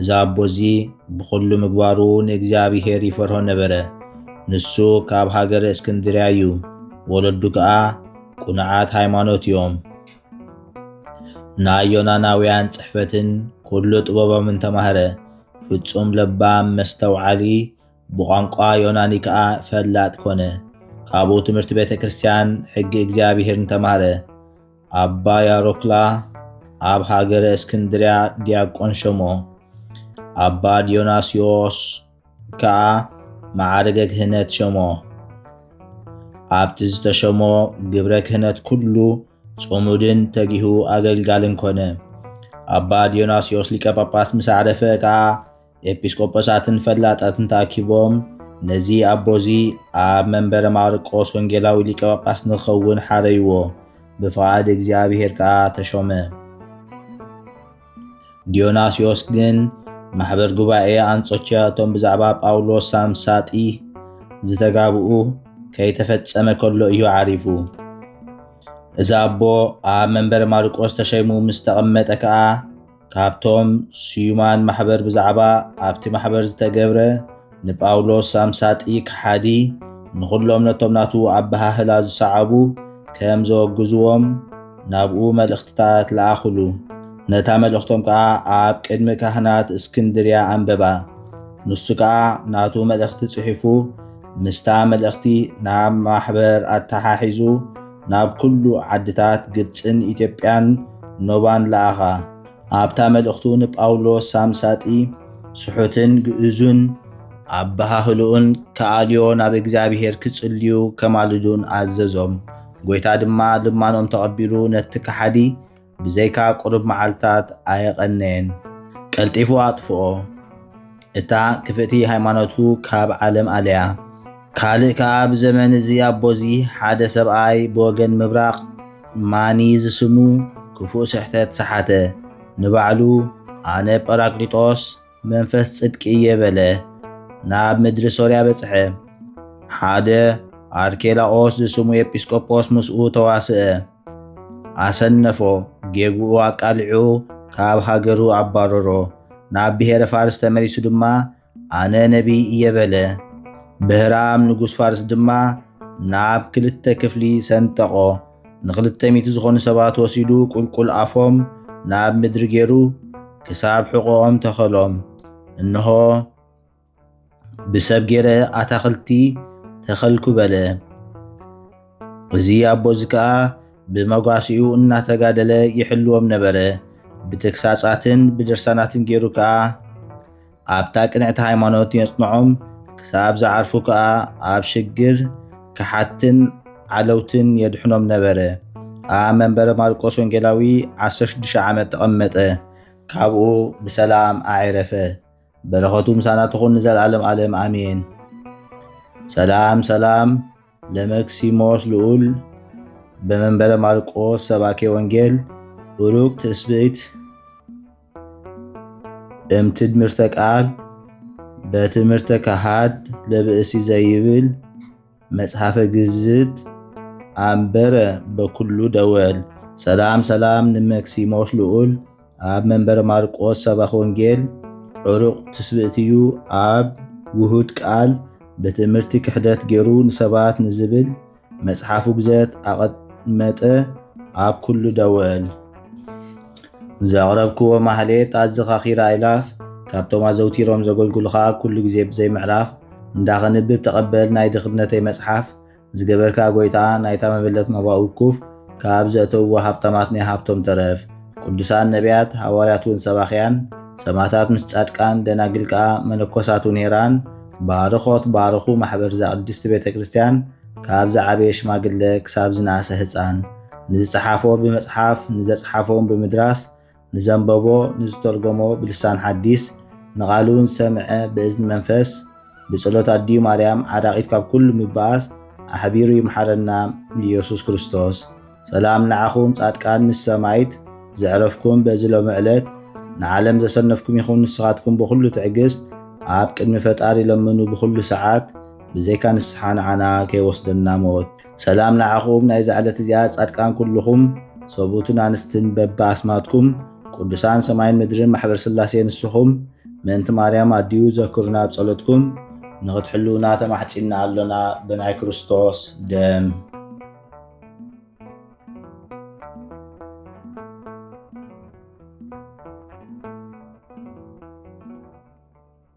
እዚ ኣቦ እዚ ብዅሉ ምግባሩ ንእግዚኣብሄር ይፈርሆ ነበረ። ንሱ ካብ ሃገረ እስክንድርያ እዩ፣ ወለዱ ከኣ ቅኑዓት ሃይማኖት እዮም። ናይ ዮናናውያን ጽሕፈትን ኵሉ ጥበቦምን ተማህረ። ፍጹም ለባም፣ መስተውዓሊ፣ ብቋንቋ ዮናኒ ከኣ ፈላጥ ኰነ። ካብኡ ትምህርቲ ቤተ ክርስትያን፣ ሕጊ እግዚኣብሄርን ተማህረ። ኣባ ያሮክላ ኣብ ሃገረ እስክንድርያ ዲያቆን ሸሞ፣ ኣባ ዲዮናስዮስ ከኣ መዓርገ ክህነት ሸሞ። ኣብቲ ዝተሸሞ ግብረ ክህነት ኩሉ ጽሙድን ተጊሁ ኣገልጋልን ኮነ። ኣባ ዲዮናስዮስ ሊቀ ጳጳስ ምስ ኣዕረፈ ከኣ ኤጲስቆጶሳትን ፈላጣትን ተኣኪቦም ነዚ ኣቦዚ ኣብ መንበረ ማርቆስ ወንጌላዊ ሊቀ ጳጳስ ንክኸውን ሓረይዎ። ብፍቓድ እግዚኣብሔር ከኣ ተሾመ። ዲዮናስዮስ ግን ማሕበር ጉባኤ ኣንጾኪያ እቶም ብዛዕባ ጳውሎስ ሳምሳጢ ዝተጋብኡ ከይተፈጸመ ከሎ እዩ ዓሪፉ። እዚ ኣቦ ኣብ መንበረ ማርቆስ ተሸይሙ ምስ ተቐመጠ ከኣ ካብቶም ስዩማን ማሕበር ብዛዕባ ኣብቲ ማሕበር ዝተገብረ ንጳውሎስ ኣምሳጢ ከሓዲ ንዅሎም ነቶም ናቱ ኣበሃህላ ዝሰዓቡ ከም ዘወግዝዎም ናብኡ መልእኽትታት ለኣኹሉ። ነታ መልእኽቶም ከኣ ኣብ ቅድሚ ካህናት እስክንድርያ ኣንበባ። ንሱ ከኣ ናቱ መልእኽቲ ጽሒፉ ምስታ መልእኽቲ ናብ ማሕበር ኣተሓሒዙ ናብ ኩሉ ዓድታት ግብጽን ኢትዮጵያን ኖባን ለኣኻ። ኣብታ መልእኽቱ ንጳውሎስ ሳምሳጢ ስሑትን ግእዙን፣ ኣበሃህልኡን ክኣልዮ ናብ እግዚኣብሔር ክጽልዩ ከማልዱን ኣዘዞም፣ ጐይታ ድማ ልማኖም ተቐቢሉ ነቲ ከሓዲ ብዘይካ ቁሩብ መዓልታት ኣየቐነየን፣ ቀልጢፉ ኣጥፍኦ። እታ ክፍእቲ ሃይማኖቱ ካብ ዓለም ኣልያ። ካልእ ከኣ ብዘመን እዚ ኣቦዚ ሓደ ሰብኣይ ብወገን ምብራቕ ማኒ ዝስሙ ክፉእ ስሕተት ሰሓተ። ንባዕሉ ኣነ ጰራቅሊጦስ፣ መንፈስ ጽድቂ እየ በለ። ናብ ምድሪ ሶርያ በጽሐ። ሓደ ኣርኬላኦስ ዝስሙ ኤጲስቆጶስ ምስኡ ተዋስአ። ኣሰነፎ፣ ጌግኡ ኣቃሊዑ ካብ ሃገሩ ኣባረሮ። ናብ ብሔረ ፋርስ ተመሊሱ ድማ ኣነ ነቢይ እየ በለ። ብህራም ንጉስ ፋርስ ድማ ናብ ክልተ ክፍሊ ሰንጠቆ። ንኽልተ ሚእቲ ዝኾኑ ሰባት ወሲዱ ቁልቁል ኣፎም ናብ ምድሪ ገይሩ ክሳብ ሕቖኦም ተኸሎም። እንሆ ብሰብ ገይረ ኣታኽልቲ ተኸልኩ በለ። እዚ ኣቦ እዚ ከኣ ብመጓሲኡ እናተጋደለ ይሕልዎም ነበረ። ብተግሳጻትን ብድርሳናትን ገይሩ ከኣ ኣብታ ቅንዕቲ ሃይማኖት የጽንዖም፣ ክሳብ ዝዓርፉ ከኣ ኣብ ሽግር፣ ከሓድትን ዓለውትን የድሕኖም ነበረ። ኣብ መንበረ ማርቆስ ወንጌላዊ ዓሰርተ ሽዱሽተ ዓመት ተቐመጠ። ካብኡ ብሰላም ኣዔረፈ። በረኸቱ ምሳና ትኹን ንዘልኣለም ኣለም ኣሜን። ሰላም ሰላም ለመክሲሞስ ልዑል በመንበረ ማርቆስ ሰባኬ ወንጌል ኡሩግ ትስብእት እም ትድምርተ ቃል በትምህርተ ካሃድ ለብእሲ ዘይብል መጽሐፈ ግዝት ኣንበረ በኩሉ ደወል ሰላም ሰላም ንመክሲሞስ ልዑል ኣብ መንበረ ማርቆስ ሰባኽ ወንጌል ዕሩቕ ትስብእትዩ ኣብ ውሁድ ቃል በትምህርቲ ክሕደት ገይሩ ንሰባት ንዝብል መጽሓፍ ውግዘት ኣቐመጠ ኣብ ኩሉ ደወል ዘቕረብክዎ ማህሌት ኣዘኻኺራ ኣይላፍ ካብቶም ኣዘውቲሮም ዘገልግሉኻ ኩሉ ግዜ ብዘይ ምዕራፍ እንዳኸንብብ ተቐበል ናይ ድኽነተይ መጽሓፍ ዝገበርካ ጎይታ ናይታ መበለት ናባኡ ኩፍ ካብ ዘእተውዎ ሃብታማት ናይ ሃብቶም ተረፍ ቅዱሳን ነቢያት ሃዋርያት ውን ሰባኽያን ሰማታት ምስ ጻድቃን ደናግል ከኣ መነኮሳት ውን ሄራን ባርኾት ባርኹ ማሕበር እዛ ቅድስቲ ቤተ ክርስቲያን ካብ ዝዓበየ ሽማግለ ክሳብ ዝነኣሰ ህጻን ንዝጸሓፎ ብመጽሓፍ ንዘጽሓፎ ውን ብምድራስ ንዘንበቦ ንዝተርጎሞ ብልሳን ሓዲስ ንቓሉ ንዝሰምዐ ብእዝኒ መንፈስ ብጸሎት ኣዲኡ ማርያም ዓራቂት ካብ ኩሉ ምባኣስ ኣሕቢሩ ይምሓረና ኢየሱስ ክርስቶስ። ሰላም ንዓኹም ጻድቃን ምስ ሰማይት ዘዕረፍኩም በዚ ሎሚ ዕለት ንዓለም ዘሰነፍኩም ይኹን ንስኻትኩም ብኹሉ ትዕግስት ኣብ ቅድሚ ፈጣሪ ለምኑ ብኹሉ ሰዓት ብዘይካ ንስሓ ንዓና ከይወስደና ሞት ሰላም ንዓኹም ናይዛ ዕለት እዚኣ ጻድቃን ኩልኹም ሰብኡትን ኣንስትን በቢ ኣስማትኩም ቅዱሳን ሰማይን ምድርን ማሕበር ስላሴ ንስኹም ምእንቲ ማርያም ኣዲኡ ዘክሩና ኣብ ጸሎትኩም ንኽትሕልውና ተማሕጺና ኣሎና ብናይ ክርስቶስ ደም